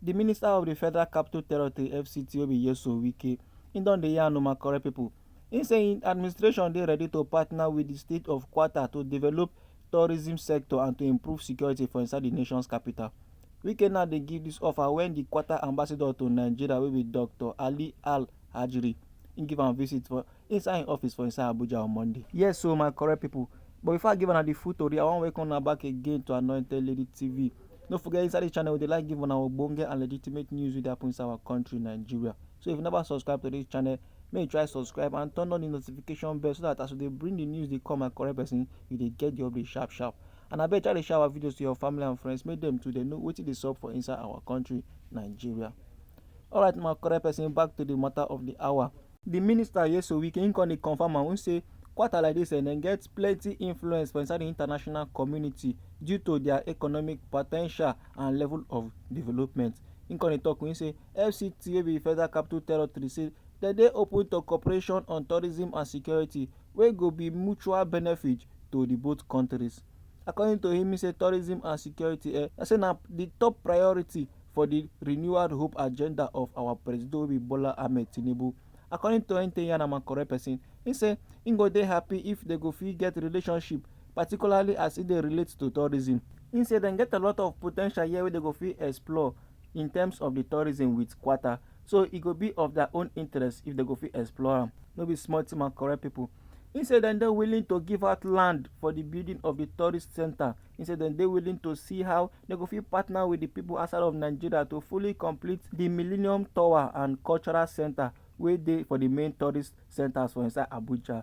Di minister of di Federal Capital Territory, FCT, wey be Nyesom Wike, im don dey yarn o my correct pipo. Im say im administration dey ready to partner wit di state of Qatar to develop tourism sector and to improve security for inside di nations capital. Wike now dey give dis offer wen di Qatar ambassador to Nigeria wey be Doctor Ali Al Hajri, im give am visit for inside im office for inside Abuja on Monday. Yes o my correct pipo, but before I give una di full tori, I wan welcome una back again to Anointed Lady TV. no forget inside this channel we dey like give una ogbonge and legitimate news wey dey happen inside our country nigeria so if you never subscribe to this channel make you try subscribe and turn on the notification bell so that as we dey bring the news dey come and correct person you dey get the update sharp sharp and abeg try dey share our videos to your family and friends make dem too dey know wetin dey sup for inside our country nigeria alright my correct person back to the matter of the hour di minister nyesom wike im come dey confam am im say kwata like dis dem get plenty influence for inside di international community due to dia economic po ten tial and level of development im come dey tok im say fct wey be federal capital territory say dem dey open to cooperation on tourism and security wey go be mutual benefit to di both kontris. According to him, he say tourism and security eh, I say na the top priority for the renewed hope agenda of our president wey be Bola Ahmed Tinubu. According to Ente Yanama correct person, he say he go dey happy if they go fit get relationship, particularly as e dey relate to tourism. He say dem get a lot of potential here wey they go fit explore in terms of the tourism with Kwata. So e go be of their own interest if dem go fit explore am. No be small thing my correct people. He say dem dey willing to give out land for the building of the tourist center. He say dem dey willing to see how dem go fit partner with the people outside of Nigeria to fully complete the Millennium Tower and Cultural Center wey dey for the main tourist centers for inside Abuja.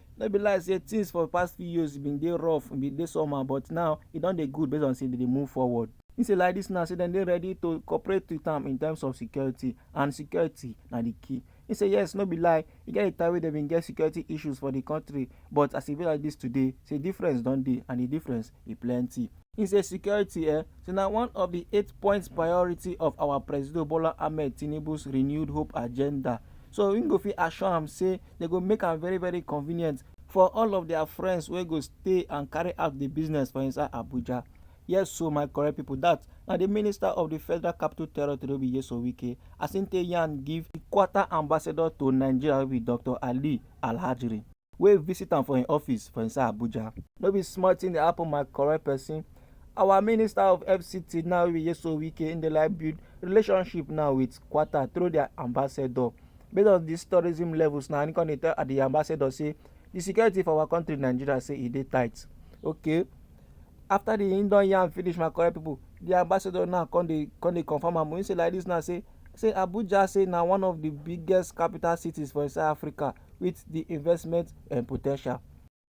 No be lie say things for past few years bin dey rough, bin dey somehow but now e don dey good based on say dem dey move forward. He say like dis now say dem dey ready to cooperate with am in terms of security and security na di key. He say yes no be lie, e get di time wey dem bin get security issues for di kontri but as e be like dis today say difference don dey and di difference e plenty. He say security eh say na one of di eight points priority of our Presido Bola Ahmed Tinubu's renewed hope agenda so im go fit assure am say They go make am very very convenient for all of their friends wey go stay and carry out the business for inside Abuja. Yes so my correct people that na the minister of the federal capital territory be Yeso Wike as him take yarn give the quarter ambassador to Nigeria wey be Dr. Ali Alhajri wey visit am for him office for inside Abuja. No be small thing dey happen my correct person. Our minister of FCT now wey be Yeso Wike him dey like build relationship now with quarter through their ambassador Based on dis tourism levels na im come dey tell di ambassador say di security for our country Nigeria say e dey tight. Okay, after di im don yarn finish my correct pipu, di ambassador now come dey come dey confirm am. Im say like dis now say say Abuja say na one of di biggest capital cities for inside Africa wit di investment um po ten tial.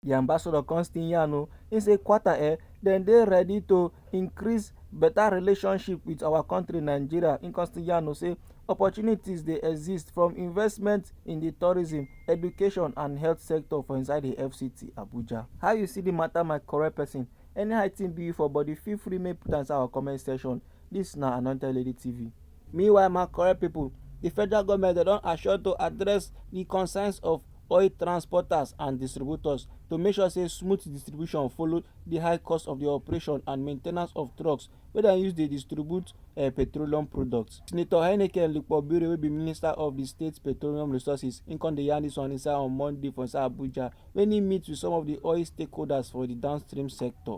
di ambassador come still yarn o im say Qatar eh dem dey ready to increase better relationship with our country Nigeria im come still yarn o say opportunities dey exist from investment in di tourism education and health sector for inside di fct Abuja. How you see di matter my correct person? Anyhow thing be you for body feel free make you put am inside our comment section dis na Anointed Lady TV. Meanwhile, my correct people, the federal government they don't assure to address the concerns of oil transporters and distributors to make sure say smooth distribution follow the high cost of the operation and maintenance of trucks wey dem use dey distribute uh, petroleum products. Senator Heineken Lukpobiri wey be minister of the state petroleum resources im come dey yarn dis one inside on Monday for inside Abuja when he meet with some of the oil stakeholders for the downstream sector.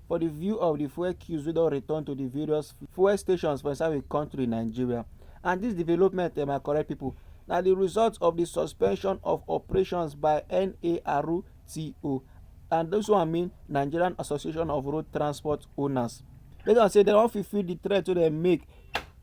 for di view of di fuel queues wey don return to di various fuel stations for inside di kontri nigeria and dis development eh my correct pipo na di result of di suspension of operations by nartco and dis one mean nigerian association of road transport owners based on say dem wan fulfil di threat wey dem make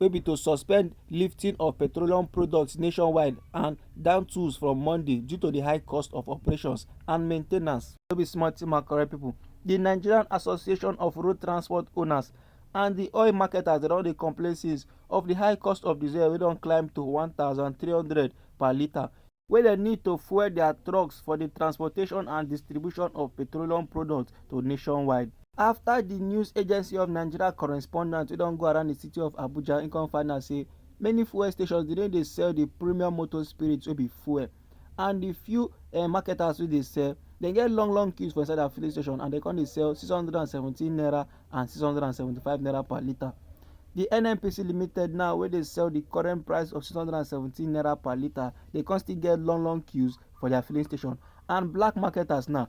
wey be to suspend lifting of petroleum products nationwide and down tools from monday due to di high cost of operations and maintenance no be small tin my correct pipo. di nigerian association of road transport owners and di oil marketers don dey complain since of di high cost of diesel wey don climb to 1300 per litre wey dem need to fuel dia trucks for di transportation and distribution of petroleum products to nationwide. After di news agency of nigeria correspondent wey don go around di city of abuja im come find out say many fuel stations dey no dey sell di premium motor spirit wey be fuel. and the few uh, marketers wey dey sell dem get long long queues for inside their filling station and dem come dey sell six hundred and seventeen naira and six hundred and seventy-five naira per litre the nnpc limited now wey dey sell the current price of six hundred and seventeen naira per litre dey come still get long long queues for their filling station and black marketers now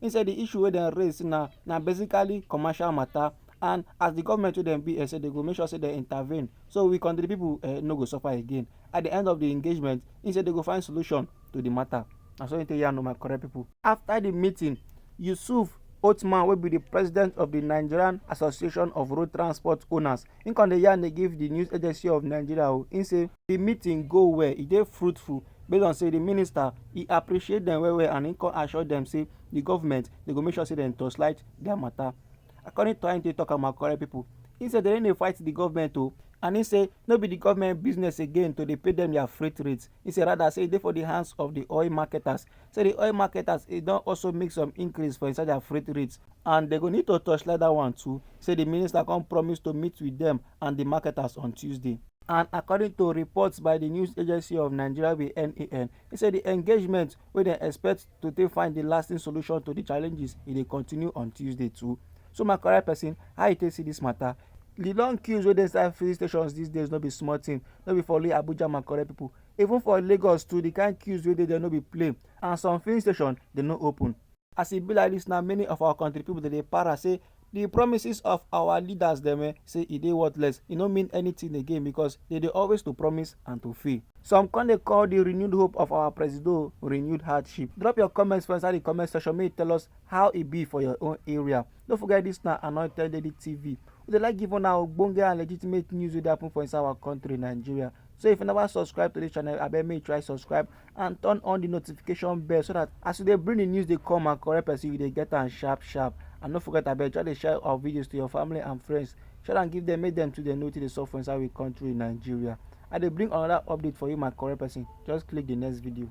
He said the issue wey dem raise na na basically commercial matter and as the government wey dem be eh, say they go make sure say they intervene so we country people eh, no go suffer again. At the end of the engagement, he said they go find solution to the matter. Na so he take yarn my correct people. After the meeting, Yusuf Othman wey be the president of the Nigerian Association of Road Transport Owners, he come dey yarn dey give the news agency of Nigeria o. He say the meeting go well e dey fruitful base on say the minister e appreciate them well well and he come assure them say the government they go make sure say dem torchlight their matter according to how he take talk am my correct people he say they no dey fight the government o oh. and he say no be the government business again to dey pay them their freight rates he say rather say e dey for the hands of the oil marketers say di oil marketers e don also make some increase for inside their freight rates and dem go need to torchlight dat one too say di minister come promise to meet with dem and di marketers on tuesday. and according to reports by di news agency of nigeria wey be nan e say di engagement wey dem expect to take find di lasting solution to di challenges e dey continue on tuesday too so my correct person how you take see dis matter di long queues wey dey inside filling stations these days no be small thing no be for only abuja my correct people. Even for Lagos too, the kind queues wey dey there no be play and some filling station dey no open. As e be like this now, many of our country people dey dey para say the promises of our leaders dem eh, say e dey worthless, e no mean anything again because they dey always to promise and to fail. Some come dey call the renewed hope of our presido renewed hardship. Drop your comments for inside the comment section make you tell us how e be for your own area. No forget dis na Anointed Lady TV. We dey like give una ogbonge and legitimate news wey dey happen for inside our country Nigeria. So if you never subscribe to dis channel, abeg make you try subscribe and turn on the notification bell so that as we dey bring the news dey come and correct person, you dey get am sharp sharp. And no forget abeg try dey share our videos to your family and friends. Share am give them make them too dey know wetin dey sup for inside we country Nigeria. I dey bring another update for you my correct person. Just click the next video.